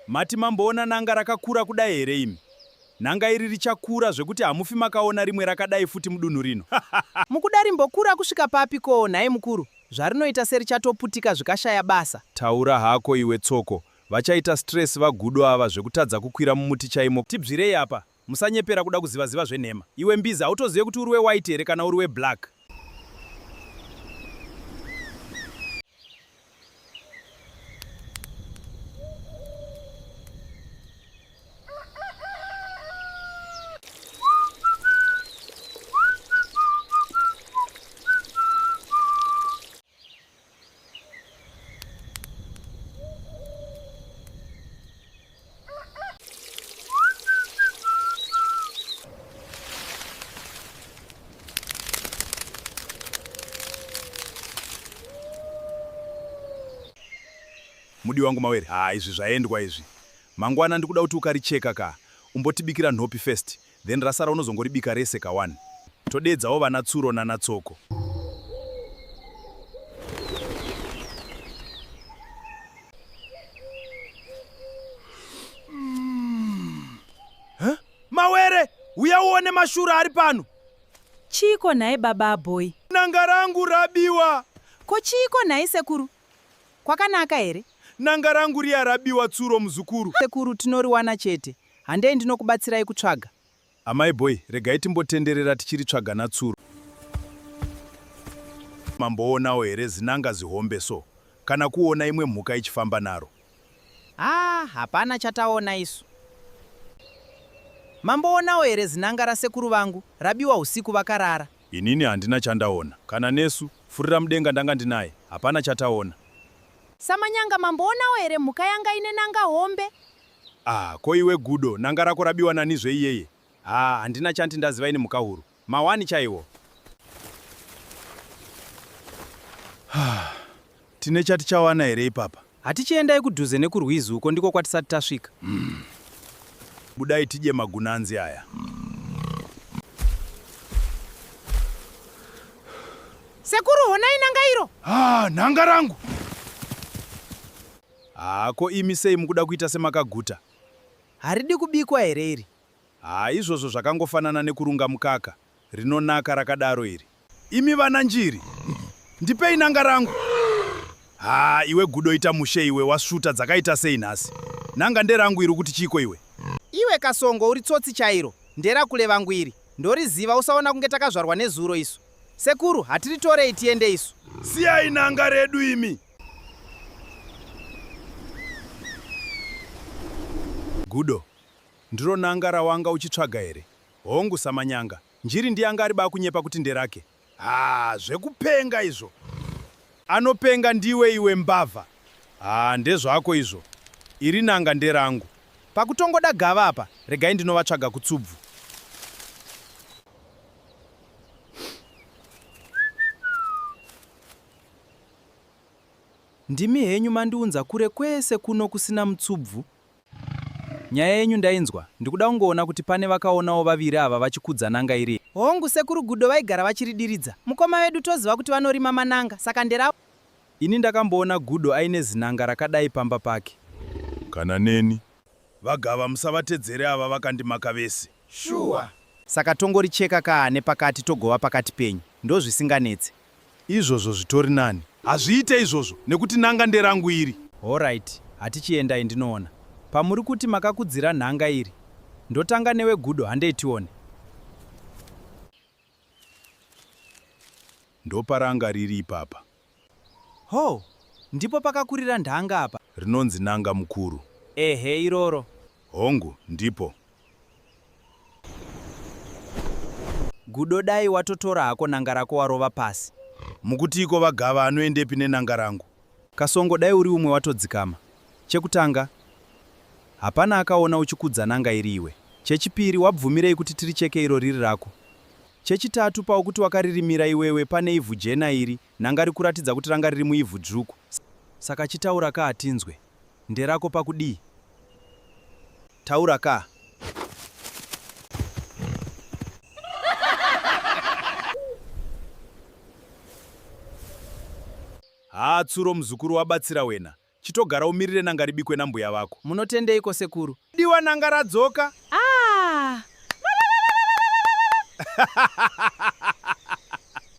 Mati mamboona nanga rakakura kudai here imi? Nanga iri richakura zvekuti hamufi makaona rimwe rakadai futi mudunhu rino. Mukuda rimbokura kusvika papi ko nhai mukuru? Zvarinoita serichatoputika zvikashaya basa. Taura hako iwe Tsoko. Vachaita stress vagudo ava zvekutadza kukwira mumuti chaimo. Tibvirei apa. Musanyepera kuda kuziva ziva zvenhema. Iwe mbizi hautozive kuti uri wewhite here kana uri weblack. mudi wangu mawere haa izvi zvaendwa izvi mangwana ndikuda kuti ukaricheka ka umbotibikira nhopi first Then rasara unozongoribika rese ka wani. Todeedzawo vana Tsuro nana Tsoko. Mawere, uya uone mashura ari pano. Chiiko nhai baba abhoyi? Nanga rangu rabiwa. Ko chiiko nhai sekuru? Kwakanaka here? Nanga rangu riya rabiwa Tsuro muzukuru. Sekuru tinoriwana chete. Handei ndinokubatsirai kutsvaga. Amai boy, regai timbotenderera tichiritsvaga natsuro. Mamboonawo here zin'anga zihombe so kana kuona imwe mhuka ichifamba naro? Haa hapana chataona isu. Mamboonawo here zin'anga rasekuru vangu rabiwa husiku vakarara? Inini handina chandaona. Kana nesu, Furiramudenga ndanga ndinaye, hapana chataona. Samanyanga, Mamboonawo here mhuka yanga ine n'anga hombe? Ah ko iwe Gudo n'anga rako rabiwa nani zve iyeye haa handina chanti ndaziva ini Mhukahuru mawani chaiwo. Haa tine chatichawana here ipapa? Hatichi endai kudhuze nekurwizi uko ndiko kwatisati tasvika. Hmm. Budai tidye magunanzi aya. Sekuru honai n'anga iro. Haa ah, n'anga rangu. Haa ko imi sei mukuda kuita semakaguta. Haridi kubikwa here iri? Haa izvozvo zvakangofanana nekurunga mukaka. Rinonaka rakadaro iri. Imi vana njiri. Ndipei nanga rangu. Haa iwe gudo ita mushe iwe wasvuta dzakaita sei nhasi. Nanga nderangu iri ukuti chiiko iwe. Iwe kasongo uri tsotsi chairo. Nderakule vangu iri. Ndoriziva usaona kunge takazvarwa nezuro isu. Sekuru hatiritorei tiende isu. Siyai nanga redu imi. Gudo. Ndiro n'anga rawanga uchitsvaga here? Hongu samanyanga. Njiri ndiye anga ariba akunyepa kuti nderake. Haa zvekupenga izvo. Anopenga ndiwe iwe mbavha. Haa ndezvako izvo. Iri n'anga nderangu. Pakutongoda gava apa regai ndinovatsvaga kutsubvu. Ndimi henyu mandiunza kure kwese kuno kusina mutsubvu. Nyaya yenyu ndainzwa, ndikuda kungoona kuti pane vakaonawo vaviri ava vachikudza n'anga iri here. Hongu, sekuru Gudo vaigara vachiridiridza. Mukoma vedu toziva kuti vanorima man'anga, saka nderavo. Ini ndakamboona Gudo aine zin'anga rakadai pamba pake. Kana neni. VaGava musavatedzere ava vakandimaka vese. Shuwa. Saka tongoricheka kaa nepakati togova pakati penyu, ndozvisinganetse. Izvozvo zvitori nani. Hazviite izvozvo nekuti n'anga nderangu iri. Horaiti hatichi endai ndinoona pamuri kuti makakudzira nhanga iri. Ndotanga newe Gudo handei tione. Ndoparanga riri ipapa. Hoo ndipo pakakurira ndhanga apa. Rinonzi n'anga mukuru. Ehe iroro. Hongu, ndipo. Gudo dai watotora hako nanga rako warova pasi. Mukutiiko vaGava anoendepi nenanga rangu? Kasongo dai uri umwe watodzikama. Chekutanga, hapana akaona uchikudza nanga iri iwe. Chechipiri, wabvumirei kuti tiricheke iro riri rako? Chechitatu, paukuti wakaririmira iwewe pane ivhu jena iri, Nhanga rikuratidza kuti ranga riri muivhu dzvuku. Saka chitaura kaa tinzwe. Nderako pakudii? Taura kaa. Haa tsuro muzukuru wabatsira wena. Chitogara umirire nanga ribikwe nambuya vako. Munotendeiko sekuru? Diwa nanga radzoka. Ah!